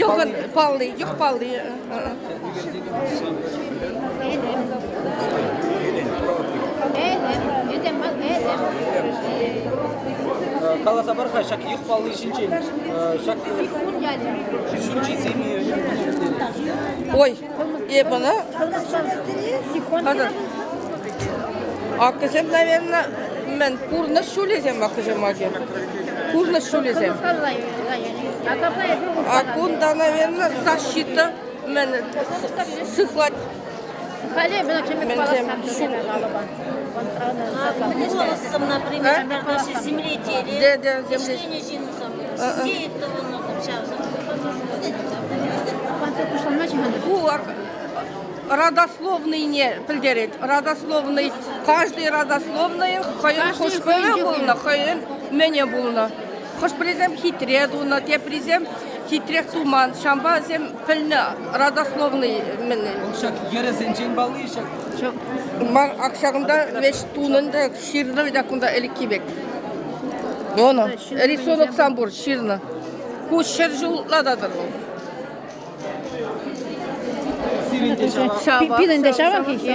Йӑхӑн палли, йӑх палли. Каласа пар-ха ҫак йӑх палли ҫинчен. Ҫак ҫурчӗсем. Ой, Эп ӑна аккӑсем, наверное, мӗн пурнӑҫ ҫулӗсем аккӑсем аки. Пурнӑҫ ҫулӗсем. А кунта, наверное, защита мӗн сыхлать. Халӗ мӗн тем ҫул. Буласом, например, земле дерева. Земле ҫинсем. Ку родословныйне пӗлтерет. Родословный каждый родословнӑй хӑйӗн хӑш-пӗвӗ пулнӑ, хӑйӗн мӗне пулнӑ. Хӑш-пӗрисем хитре тунӑ, теприсем хитрех туман. Ҫавӑнпа вӗсем Пӗлнӗ, родословный мӗн. Вӑл ҫак йӗрӗсенчен палли ҫак. Ман акшагымда вещь тунӑн та ҫырнӑ та кунта ӗлӗкхи пек. Оны. Рисунок сам пур ҫырнӑ. Ку ҫӗр ҫул ладатӑр вӑл. Пирӗн те ҫавах. Пирӗн те ҫавах-и?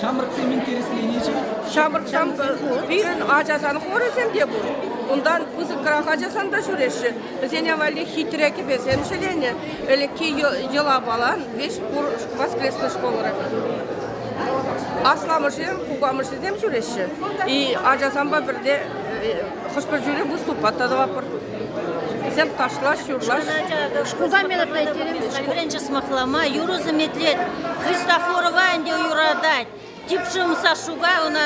Ҫамрӑксем интересленӗҫӗ. Ҫамрӑксем пирӗн ачасан хорӗсем те пур. Унтан пысӑкрах ачасан та ҫӳреҫҫӗ. Вӗсене валли хитре кӗпесем ҫӗленӗ. Ӗлӗкхи йӑла-палан веҫ пур воскресной школра. Асламӑшӗсем, кукамӑшӗсем ҫӳреҫҫӗ. И ачасампа пӗрле хӑш-пӗр тӳре выступа та тӑваппӑр. Вӗсем ташлаҫ-юрлаҫ. Шкулта мероприятире вӗренчӗ сӑмахлама, юрӑ сӗметлет. Христофорова ӗнтӗ юратать. Тип шым Сашуга ӑна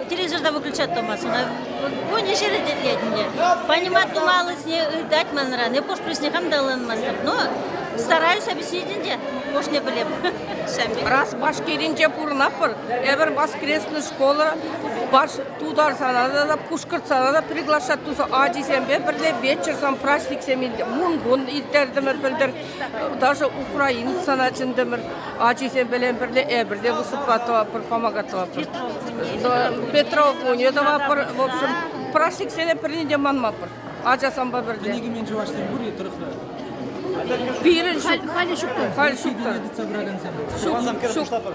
телевизорта выключать тӑмасть. Ӑна вунӗ ҫӗре тетлет ӗнтӗ. Понимать тумаллисне ыйтать манран. Эп пуҫне хам та ыланмастӑп, но стараюсь объяснить ӗнтӗ. Пошне пӗлеп. Раз Башкиринче пурӑнатпӑр, эпир воскресный школа тутарсана та, пушкӑртсана та приглашать туса ачисемпе пӗрле вечерсем, праҫниксем мункун ирттертӗмӗр пӗлтӗр. Даже украинцана чӗнтӗмӗр ачисемпе пӗрле эпир те выступа тӑваппӑр, помога тӑваппӑр. Петров кунӗ тӑваппӑр. В общем, праҫниксене пӗрне те манмаппӑр ачасемпе пӗрле. Кӗнекемен чӑвашсем пур-и тӑрӑхра? Пирӗн халӗ ҫук халь ҫук тытса пыракансем. Ҫук, ҫук.